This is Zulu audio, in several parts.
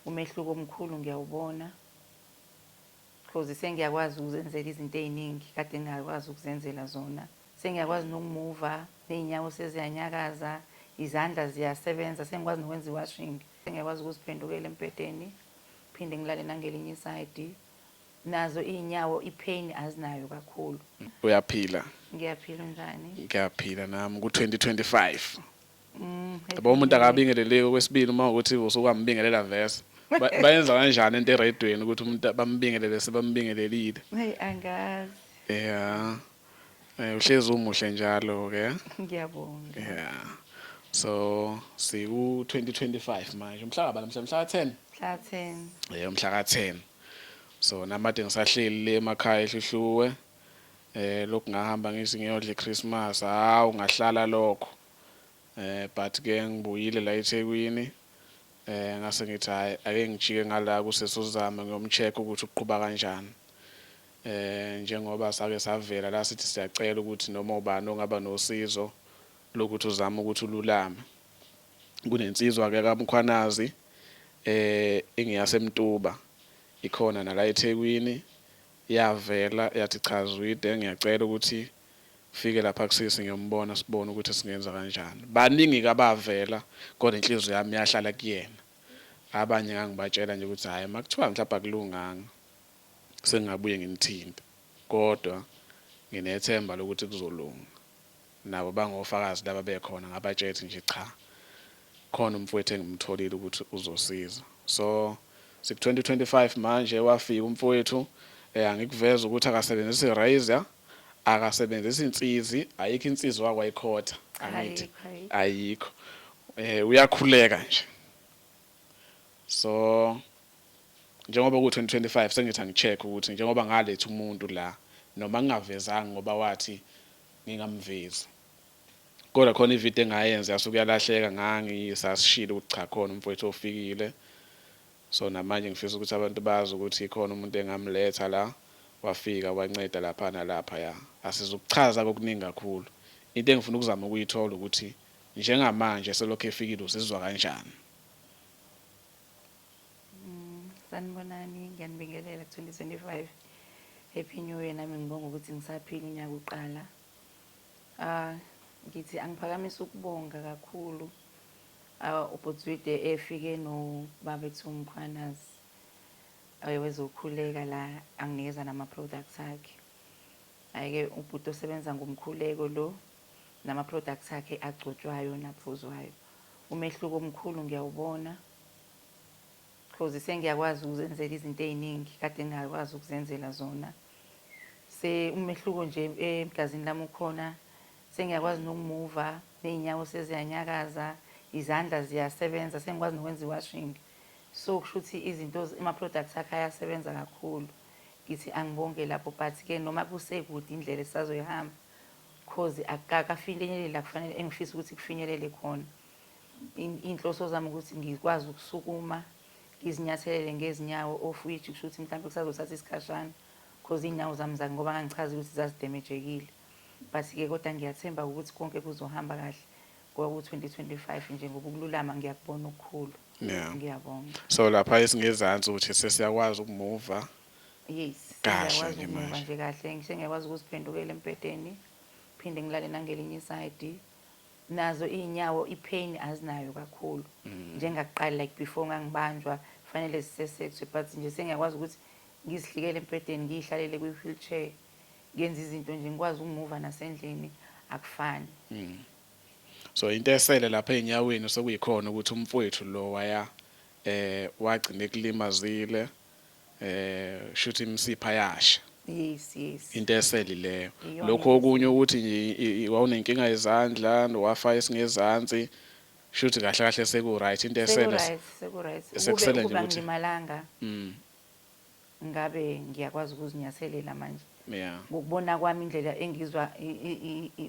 Umehluko omkhulu ngiyawubona coz sengiyakwazi ukuzenzela izinto ey'ningi kade ngingakwazi ukuzenzela zona. Sengiyakwazi nokumuva, ney'nyawo seziyanyakaza, izandla ziyasebenza, sengikwazi nokwenza i-washing. Sengiyakwazi ukuziphendukela embhedeni, phinde ngilale nangelinye isayidi. Nazo iy'nyawo i-pain azinayo kakhulu. Uyaphila? Ngiyaphila, unjani? Ngiyaphila nami, ku-2025. Mm, Yabo umuntu akabingeleleki okwesibili uma ukuthi usukwambingelela vese. Ba- Bayenza kanjani into eredweni ukuthi umuntu bambingelele sebambingelelile. Hey angazi. Yeah. Eh uhlezi umuhle njalo ke. Ngiyabonga. Yeah. So siku 2025 manje. Umhla kabala mhla mhla 10. Mhla 10. Eh umhla ka 10. So namade ngisahleli le emakhaya ehluhluwe. lokhu ngahamba ngithi ngiyodla iChristmas hawu ngahlala lokho but ke ngibuyile la eThekwini ngase ngithi hayi ake ngijike ngala kusesi uZama ngiyomcheck ukuthi uqhuba kanjani njengoba sake savela la sithi siyacela ukuthi noma ubani ongaba nosizo lokuthi uzama ukuthi ululame kunensizwa ke kaMkhwanazi eh ingiyaseMtuba ikhona nala eThekwini Yavela yathi cha Zwide ngiyacela ukuthi ufike lapha kusisi ngiyombona sibone ukuthi singenza kanjani. Baningi ke abavela kodwa inhliziyo yami yahlala kuyena. Abanye ngangibatshela nje ukuthi hhayi makuthiwa mhlawumbe akulunganga sengingabuye ngimthinte kodwa nginethemba lokuthi kuzolunga. Nabo bangofakazi laba bekhona ngabatsheth nje cha khona umfwethu engimtholile ukuthi uzosiza so siku 2025 manje wafika umfwethu eh angikuveza ukuthi akasebenzisi irazor akasebenzisi insizi ayikho insizi wakwa ikhotha angithi ayikho eh uyakhuleka nje so njengoba ku 2025 sengithi angicheck ukuthi njengoba ngaletha umuntu la noma ngingavezanga ngoba wathi ngingamvezi kodwa khona ivideo engayenza yasuke yalahleka ngangisasishile ukuthi cha khona umfowethu ofikile so namanje ngifisa ukuthi abantu bazi ukuthi khona umuntu engamletha la wafika wanceda lapha nalapha ya asizukuchaza kokuningi kakhulu into engifuna ukuzama ukuyithola ukuthi njengamanje selokhu efikile uzizwa kanjani Mm, sanibonani, ngiyanibingelela ku-2025. Happy New Year nami ngibonga ukuthi ngisaphila unyaka uqala. Ah, ngithi angiphakamisa ukubonga kakhulu ah, ubhutswide efike nobabethu umkhwanazi eh, wezokhuleka la anginikeza nama-products akhe ayike ubhuti osebenza ngomkhuleko lo nama-products akhe agcotshwayo naphuzwayo umehluko omkhulu ngiyawubona Coz sengiyakwazi ukuzenzela izinto eziningi kade ngingakwazi ukuzenzela zona. Se umehluko nje egazini lami ukhona. Sengiyakwazi nokumuva, nezinyawo seziyanyakaza, izandla ziyasebenza, sengikwazi nokwenza iwashing. So kushuthi izinto ama products akhe ayasebenza kakhulu. Ngithi angibonge lapho but ke noma kusekude indlela esisazoyihamba coz akakafinyeleli la kufanele engifisa ukuthi kufinyelele khona. Iy'nhloso zami ukuthi ngikwazi ukusukuma ngizinyathelele ngezinyawo of which kusho ukuthi mhlawumbe kusazothatha isikhashana because iy'nyawo zami zake ngoba ngangichazile ukuthi zazidemejekile but-ke kodwa ngiyathemba ukuthi konke kuzohamba kahle ngoba ku-2025 nje ngoba ukululama ngiyakubona okukhulu ngiyabonga so lapha esingezansi ukuthi sesiyakwazi ukumuva yes ngiyakwazi ukumuva nje kahle ngisho ngiyakwazi ukuziphendukela embhedeni phinde ngilale nangelinye isayidi nazo izinyawo ipain azinayo kakhulu njengakuqala like before ngangibanjwa fanele zisesexwe but nje sengiyakwazi ukuthi ngizihlikele embhedeni ngiyihlalele kwi wheelchair ngenza izinto nje ngikwazi ukumuva nasendlini akufani mm. so into esele lapha ezinyaweni sekuyikhona ukuthi umfowethu lo waya eh wagcina ekulimazile eh shuthi imsipha yasha yes yes into eseli leyo lokho okunye ukuthi nje wawunenkinga yezandla wafa esingezansi shuthi kahle kahle seku right into esele seku right sekusele nje ukuthi ngimalanga mm ngabe ngiyakwazi ukuzinyathelela manje yeah ngokubona kwami indlela engizwa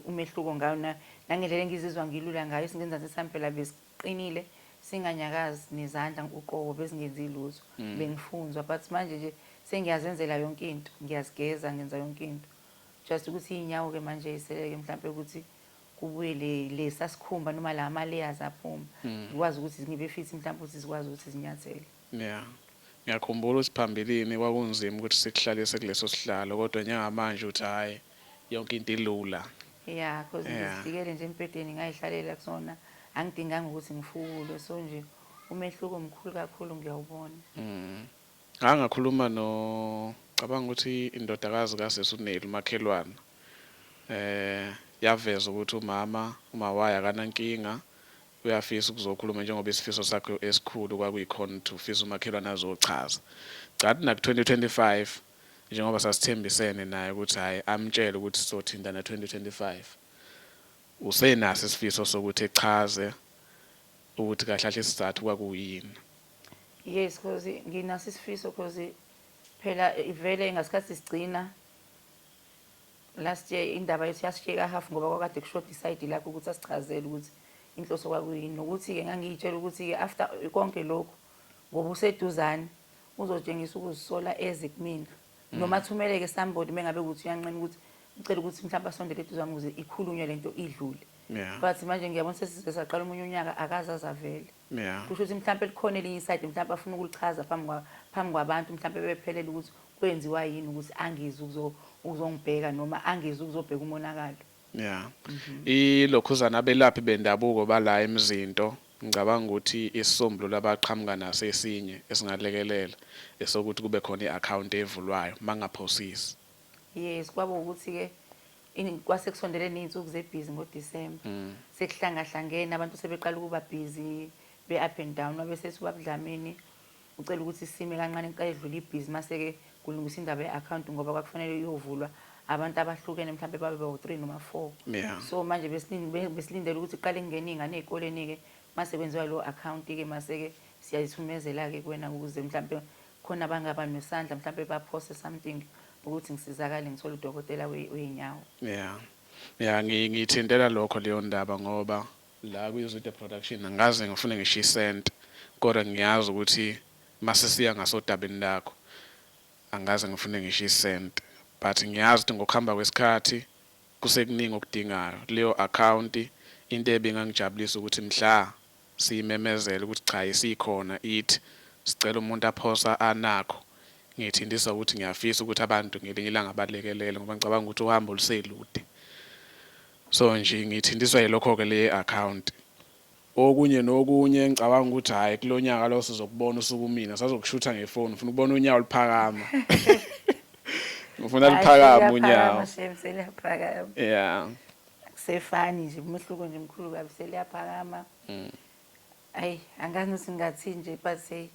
umehluko ngayo na nangendlela engizizwa ngilula ngayo singenzansi sampela bese qinile singanyakazi nezandla uqobo bezingenzi lutho mm. bengifunzwa but manje nje sengiyazenzela yonke into ngiyazigeza ngenza yonke into just ukuthi inyawo ke manje iseleke mhlawumbe ukuthi kubuye le lesa sikhumba noma la ama layers aphuma mm. ngikwazi ukuthi ngibe fit mhlawumbe ukuthi zikwazi ukuthi zinyathele Ya. Ngiyakhumbula ukuthi phambilini kwakunzima ukuthi sikuhlalise kuleso sihlalo kodwa njengamanje uthi hhayi yonke into ilula. Ya, cos Ya. ngizidikele nje embhedeni ngayihlalela kusona angidinganga ukuthi ngifukulwe so nje umehluko mkhulu kakhulu ngiyawubona. Ngake ngakhuluma no cabanga ukuthi indodakazi kasisi uNeli umakhelwana um yaveza ukuthi umama umawayo akanankinga Uyafisa ukuzokhuluma njengoba isifiso sakhe esikhulu kwakuyikhona ukuthi ufisa umakhelwane azochaza. Cathi naku 2025 njengoba sasithembisene naye ukuthi hhayi amtshele ukuthi sizothintana 2025. Usenaso isifiso sokuthi echaze ukuthi kahle kahle isizathu kwakuyini. Yes coz nginaso isifiso coz phela vele ngasikhathi sigcina. Last year indaba yethu yasisheka half ngoba kwakade kushoda isayidi lakho ukuthi asichazele ukuthi inhloso kwakuyini nokuthi-ke ngangiyitshela ukuthi-ke after konke lokhu ngoba useduzane uzotshengisa ukuzisola eze kumina mm. noma athumeleke somebody mengabe ukuthi uyanqena ukuthi ucela ukuthi mhlawumbe asondele eduzane ukuze ikhulunywe le nto idlule but manje ngiyabona sesize saqala omunye unyaka akaze azavele Yeah. Kusho ukuthi mhlawumbe likhona elinye isayidi mhlawumbe afuna ukulichaza phambi kwa phambi kwabantu mhlawumbe bephelele ukuthi kwenziwa yini ukuthi angizi ukuzo ukuzongibheka noma angizi ukuzobheka umonakalo. Yeah. Mhm. Ilokhuzana abelaphi bendabuko bala emzinto ngicabanga ukuthi isisombululo abaqhamuka naso esinye esingalekelela esokuthi kube khona i-account evulwayo mangaphosisi. Yes kwabo ukuthi ke In- kwase kusondele ney'nsuku zebhizi ngodisemba sekuhlangahlangene abantu sebeqala ukuba bhizi be-up and down wabe sethi ubaba dlamini ucela ukuthi sime kancane kuqale kudlule ibhizi mase-ke kulungiswa indaba ye-akhawunti ngoba kwakufanele iyovulwa abantu abahlukene mhlawumbe babe bawu-three noma four Yeah. so manje besilin- be- besilindele ukuthi kuqale kungene iy'ngane ey'koleni-ke mase kwenziwa leyo akhawunti-ke mase-ke siyayithumezela-ke kuwena ukuze mhlawumbe Khona abangaba nosandla mhlampe baphose something ukuthi ngisizakale ngithole udokotela wezinyawo. Yeah. Yeah ngiyithintela lokho leyo ndaba ngoba la kwiZwide Production angikaze ngifune ngisho isent kodwa ngiyazi ukuthi masisiya ngasodabeni lakho angikaze ngifune ngisho isent but ngiyazi ukuthi ngokuhamba kwesikhathi kusekuningi okudingayo leyo account into ebingangijabulisa ukuthi mhla siyimemezela ukuthi cha isikhona it sicela umuntu aphosa a nakho ngithintisa ukuthi ngiyafisa ukuthi abantu ngelinye ilanga balekelele ngoba ngicabanga ukuthi uhambo luselude so nje ngithintiswa yilokho ke le account okunye nokunye ngicabanga ukuthi hhayi kulo nyaka lo sizokubona usuku mina sazokushutha ngefoni ngifuna ukubona unyawo luphakama ngifuna luphakama unyawo ya akusefani nje umehluko nje mkhulu kabi seliyaphakama mm. ayi angazi ukuthi ngingathini nje but hey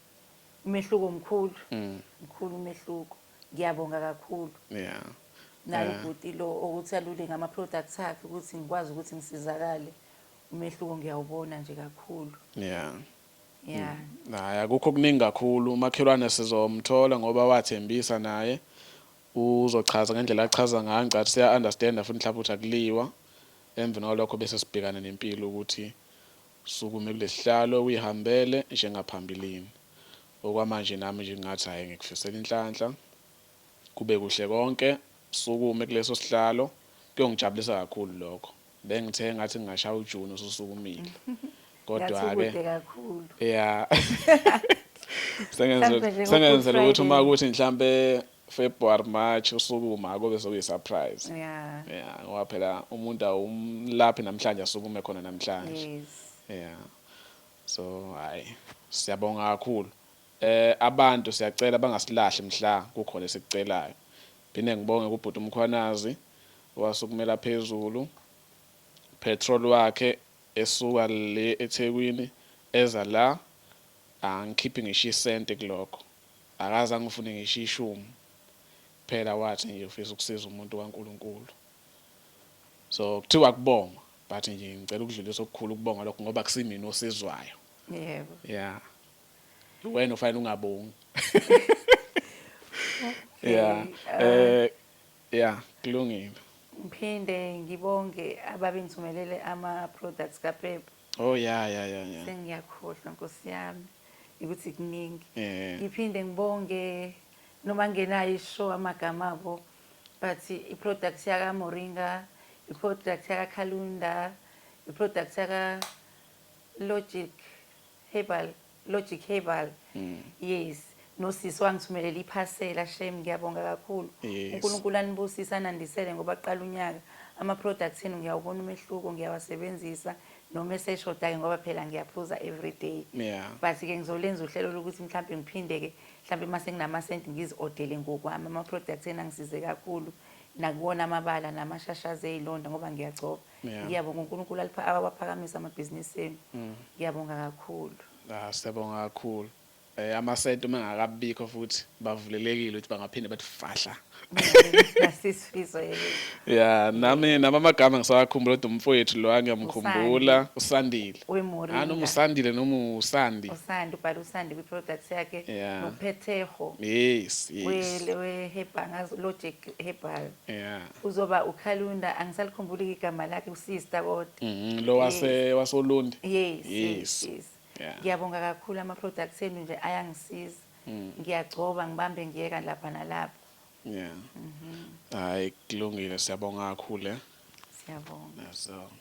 umehluko mkhulu mm. mkhulu umehluko ngiyabonga kakhulu yeah naye eh. ubhuti lo ukuthi alule ngama products akhe ukuthi ngikwazi ukuthi ngisizakale umehluko ngiyawubona nje kakhulu yeah yeah mm. hayi akukho kuningi kakhulu umakhelwane sizomthola ngoba wathembisa naye Uzochaza ngendlela achaza ngayo ngicathi siya understand futhi mhlawumbe ukuthi akuliwa emveni kwalokho bese sibhekana nempilo ukuthi sukume kulesihlalo uyihambele njengaphambilini okwamanje nami nje ngingathi hhayi ngikufisela inhlanhla kube kuhle konke sukume kuleso sihlalo kuyongijabulisa kakhulu lokho. Bengithe ngathi ngingashaya ujuni ususukumile. Kodwa ke kude kakhulu. Yeah. Sengenze sengenzela ukuthi uma ukuthi mhlambe February March usukuma akobe sokuyi surprise. Yeah. Yeah, ngoba phela umuntu awumlaphi namhlanje asukume khona namhlanje. Yes. Yeah. So hayi siyabonga kakhulu. Abantu siyacela bangasilahli mhla kukhona esikucelayo. Ngiphinde ngibonge kubhuti uMkhwanazi owasukumela phezulu petrol wakhe esuka le eThekwini eza la angikhiphi ngisho isenti kulokho akaze angifune ngisho ishumi kuphela wathi nje ufisa ukusiza umuntu kaNkulunkulu so kuthiwa kubongwa but nje ngicela ukudlulisa okukhulu ukubonga lokho ngoba kusimina osizwayo. Yebo. Yeah. Wena ufanele ungabongi. Yeah. Eh yeah, kulungile. Ngiphinde ngibonge ababengithumelele ama products ka Pep. Oh yeah yeah yeah yeah. Sengiyakhohlwa Nkosi yami ukuthi kuningi. Eh. Ngiphinde ngibonge noma ngenayo ishow amagama abo but i product yaka Moringa, i product yaka Calunda, i product yaka Logic Herbal Logic Herbal mm. yes nosisi wangithumelela iphasela shame ngiyabonga kakhulu yes. uNkulunkulu anibusise anandisele ngoba kuqala unyaka ama products enu ngiyawubona umehluko ngiyawasebenzisa noma eseshoda ke ngoba phela ngiyaphuza every day yeah. but ke ngizolenza uhlelo lokuthi mhlawumbe ngiphinde ke mhlawumbe uma senginama cent ngiziodele ngokwami ama products enu angisize kakhulu nakuwona amabala namashashazi ezilonda ngoba ngiyagcoba Yeah. ngiyabonga unkulunkulu alipha- awaphakamisa amabhizinisi enu ngiyabonga kakhulu Ah, siyabonga kakhulu eh amasenti uma engakabikho futhi bavulelekile ukuthi bangaphinde bathi fahla nasisifiso yelo ya nami nami amagama ngisawakhumbula kodwa umfowethu lo angiyamkhumbula usandile Wemoringa. Ah, noma usandile noma usandi usandi ubhala usandi kwi-products yakhe Yeah. nophethego yes yes wehebhangazi logic hebhal Yeah. uzoba ukhalunda angisalikhumbuli igama lakhe usista kodwa Mhm, Lo wase Yes. wasolundi. yes yes Yes. yes Yeah. ngiyabonga kakhulu ama products enu nje ayangisiza Mm. ngiyagcoba ngibambe ngiyeka lapha nalapha Yeah. Mhm. Hayi kulungile siyabonga kakhulu. eh. siyabonga So.